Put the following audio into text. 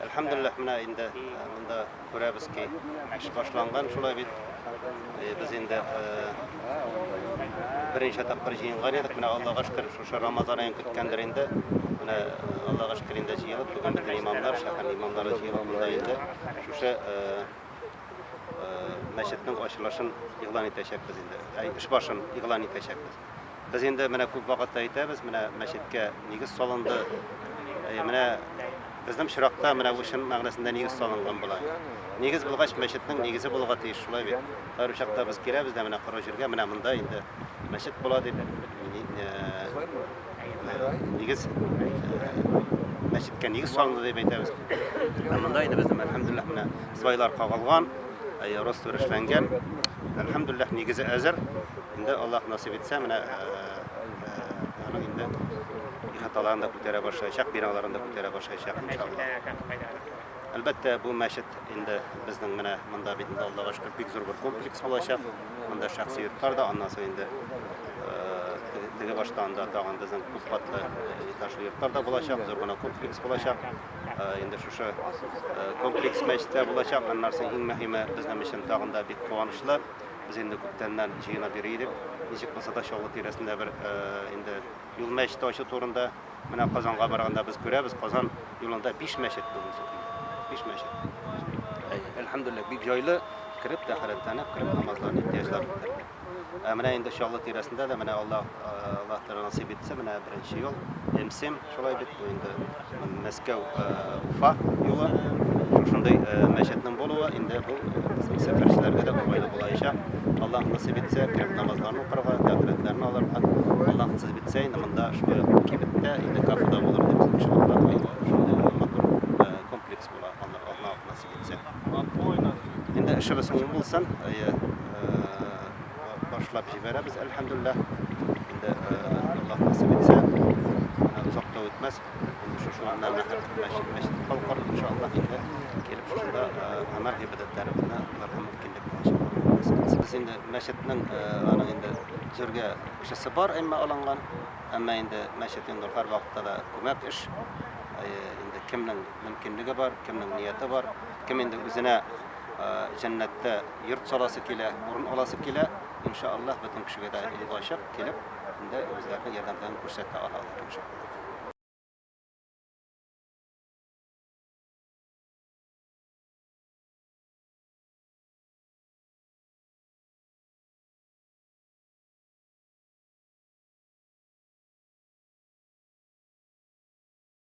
Әлхәмдулиллаһ, менә инде монда күрәбез ки, эш башланган шулай бит. Без инде беренче тапкыр җыенган идек, менә Аллага шөкер, шушы Рамазан аен көткәндер инде. Менә Аллага шөкер инде җыелып, бүген безнең имамнар, шәһәр имамнары җыелып монда инде шушы мәчетнең ачылышын игълан итәчәкбез инде. Эш башын игълан итәчәкбез. Без инде менә күп вакытта әйтәбез, менә мәчеткә нигез салынды. Э, менә безнең чиракта менә бу чын мәгънәсендә нигез салынган була. Нигез булгач, мәчетнең нигезе булуга тиеш, шулай бит. Һәр чакта без киләбез дә менә коры җиргә, менә монда инде мәчет була дип нигез мәчеткә нигез салынды дип әйтәбез. Ә монда инде безнең әлхәмдуллаһ менә свайлар кагылган, роствершләнгән. Әлхәмдуллаһ нигезе әзер. Инде Аллаһ насыйп итсә, менә аның инде ихаталарын да күтәрә башлаячак, биналарын да күтәрә башлаячак иншаллаһ. Әлбәттә, бу мәчет инде безнең менә монда бит инде Аллага шөкер бик зур бер комплекс булачак. Монда шәхси йортлар да, аннан соң инде теге баштан да тагын безнең күп катлы этажлы йортлар да булачак, зур гына комплекс булачак. Инде шушы комплекс мәчеттә булачак. Аннан соң иң мөһиме безнең өчен тагын да бик куанычлы. Без инде күптәннән җыенып йөри идек. Ничек булса да Чаллы тирәсендә бер инде юл мәчете ачу турында. Менә Казанга барганда без күрәбез, Казан юлында биш мәчет бүгенге көн. Биш мәчет. Әйе, әлхәмдүлилләһ, бик җайлы кереп тәхәрәтләнеп, кереп намазларны, ихтыяҗлар үтәргә. Ә менә инде Чаллы тирәсендә дә менә Аллаһ Аллаһ Тәгалә насыйп итсә, менә беренче ел МСИМ Шулай бит бу инде Мәскәү, Уфа юлы. Шушындый мәчетнең булуы инде бу безнең сәфәрчеләргә дә уңайлы булаячак. Аллаһ насыйп итсә, кереп намазларны укырга, тәхритләрне алырга. Аллаһ насыйп итсә, инде монда шулай кибеттә, инде кафеда булыр дип иншаллаһ. Шундый матур комплекс була. китсә. Инде эшебез уңай булсын, әйе, башлап җибәрәбез, әлхәмдүлилләһ. Инде Аллаһ насыйп итсә, менә озак та үтмәс, инде шушы монда мәчет, мәчет калкыр, иншаллаһ, инде килеп шушында гамәл гыйбадәтләре генә кылырга мөмкинлек булачак, Аллаһ насыйп итсә. Без инде мәчетнең аның инде төзергә акчасы бар, әмма алынган, әмма инде мәчет инде һәрвакытта да күмәк эш, әйе, инде кемнең мөмкинлеге бар, кемнең нияте бар, кем инде үзенә җәннәттә йорт саласы килә, урын аласы килә, иншаллаһ, бөтен кешегә дә ул ачык килеп, инде үзләренең ярдәмнәрен күрсәтә алалар иншаллаһ.